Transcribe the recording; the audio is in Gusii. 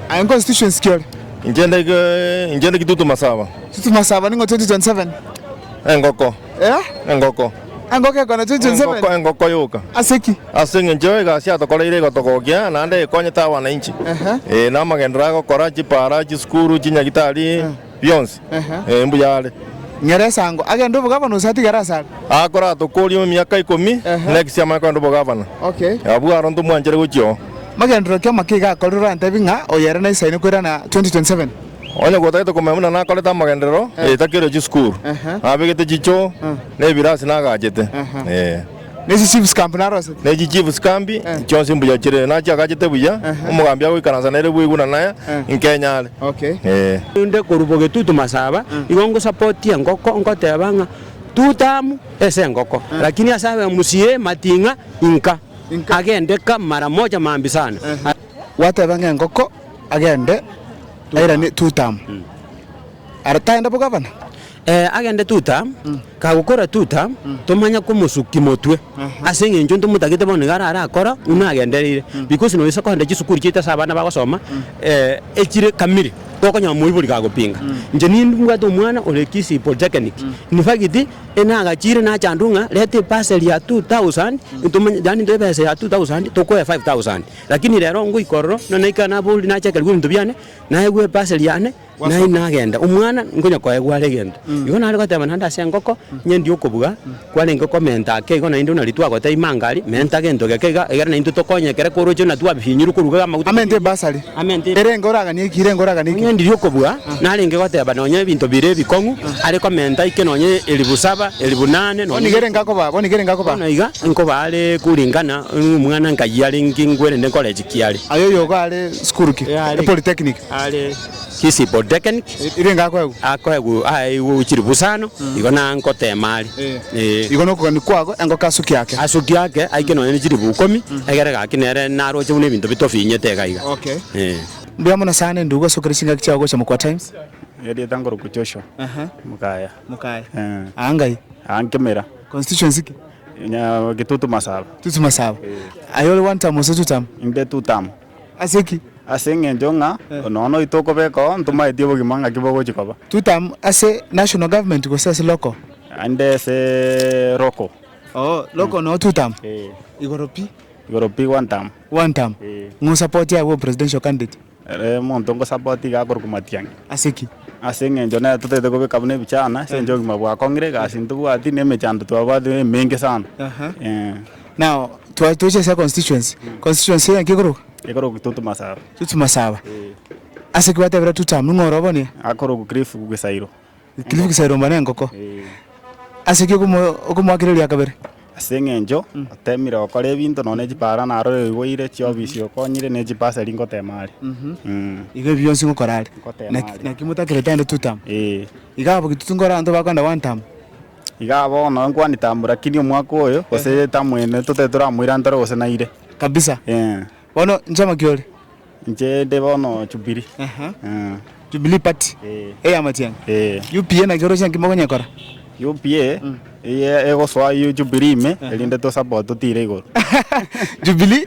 Aye nconstituency ki ore? Inche inde inche inde Kitutu Masaba. Kitutu Masaba ning'o 2027? Engoko. Eh? Engoko. Engoko ekona 2027? Engoko engoko yoka. Ase ki? Ase eng'encho egasi yatokoreire egotogokia naende ekonyete abanainchi. Ehe. Eh, na amagenderero agokora, chipara, chisukuru, chinyagitari. bionsi, ee, mbuya are. Nyora esango, agende obogavana gose atigare ase are. Akoratokoorie emiaka ikomi, na egechiamare kogenda obogavana. Okay. Abwo aro ntomwanchere gochia oo. Magenderero ki amake iga akorire orantebie ng'a oyo ere naisaine koirana 2027? Onye gotagete komanya buna nakorete amagenderero, ee, takeirwe chisukuru, nabegete chichoo, na ebirasi nagachete, ee. Ne chisiibuskambi narosete. Ne chichiibuskambi chionsi mbuya chire, nachi agachete buya, omogambi agoikaransa nere bwegwe na naye inke enyare. Okay. Ee. Naende korwa bogetutu masaba igo ngosapotie engoko ngoteba ng'a two tamu ase engoko lakini ase abe musie mating'a inka agende ka mara moja maambi sana. Gwateba ng'a engoko agende airane two tamu are tagenda bogavana? Ee, agende tuta, kagokora tuta, tomanya komosuki motwe, ase engencho ntomotagete bono nigo arare akora buna agendereire, because nonya ase kogenda chisukuru chiaito ase abana bagosoma, eh, echire kamili, gokonyora moibori kagopinga, inche ni- nibwate omwana ore kisii polytechnic, in fact, enagachire nachandwa ng'a reta ebasari ya two thousand, ntomanye yaani ntoe ebesa ya two thousand tokoe five thousand, lakini rero ngoika ororo, nonye naika nabori nachakera ebinto biane, naegwa ebasari yane. Naende nagenda, omwana nkonya koe gware egento. Igo nare goteba naende ase engoko, Nyendi okobua, kwarenge komenta ake igo naintwe nari twagoteba imanga aria, menta gento geke iga, egere naintwe tokonywe ekero koroche buna twabifinyirwe koruga iga amaguta. Amente ebasari. Amente. Erenge oraganie eki, erenge oraganie eki. Onyendi okobua, narenge goteba nonye ebinto bire ebikong'u, are komenta ike nonye elifu saba, elifu nane, nonye. Bono iga erenge akobaa, bono iga erenge akobaa. Bono iga nkobaa are kuringana nomwana nkayia are ngingwerende nkore eki kiare. Aye oyogo are sukuru ki? Epolytechnic. are Kisipo Dekenk, Ere ngako agwo. akoegw aeigw ochiri busano, igo na ngotema are. Ee. Igo nokogania kwago engoke asuki ake. Asuki ake aike nonya ne chiribu ukomi, egere gaki nere naroche buna ebinto bitofinyete iga iga. Okay. Ee. Mbuya mono sana endugu gosokera chingaki chiao gocha mokwa times. Erieta nkorokwa Joshua Aha. Mukaya. Mukaya. Eh. Aa ngai. Aa Nkemira. Constituency ki? Nya Gitutu Masaba. Tutu masaba. Aye ore one term gose two term? Inde two term. Ase ki? Ase engencho ng'a nonya noito okobeka oo ntomaeti obogima ng'aki bogochi koba. Two term ase national government gose ase local? Naende ase local. Oo, local noo two term? Ee. Igoro pi? Igoro pi one term. One term? Ee. Ng'a osapoti agwo presidential candidate? Ere omonto ngosapoti iga akorokwa Matiang'i. Ase ki? Ase engencho nere totaete kobeka buna ebichana ase engencho obogima bwakong'ire, egasi ntobwati, na emechando twabwate emenge sana. Aha. Eeh. Now twa- twache ase constituency, constituency eye nki ekoroka? Ekoroku Tutu Masaba. Tutu Masaba. Ase ki gwatebire two term, ning'o ore obonia? Akoroku Cliff Gesairo. Cliff Gesairo mbone engoko. Ase ki okomo- okomoakera erio ya kabere? Ase eng'encho otemire gokora ebinto nonya ne chipara naro oyoigweire, chiofisi okonyire ne chibasari ngotema are. Mh. Iga ebi bionsi ngokora are. Ngotema Naki- are. naki motakerete aende two term. Ee. Iga abwo gitutu nkore abanto bakoenda one term. Iga bono nkwane tambora kini omwaka oyo gose etamu ene totari toramoirantore gose naire. Kabisa. Ee. Bono inche amaki ore? Inche inde bono Jubilee. Aha. Ee. Jubilee party. Ee. Eya Matiang'i. Ee. UPA naki oroche nki mokonyekora? UPA eye egosoa Jubilee ime erinde to support totire igoro. Jubilee.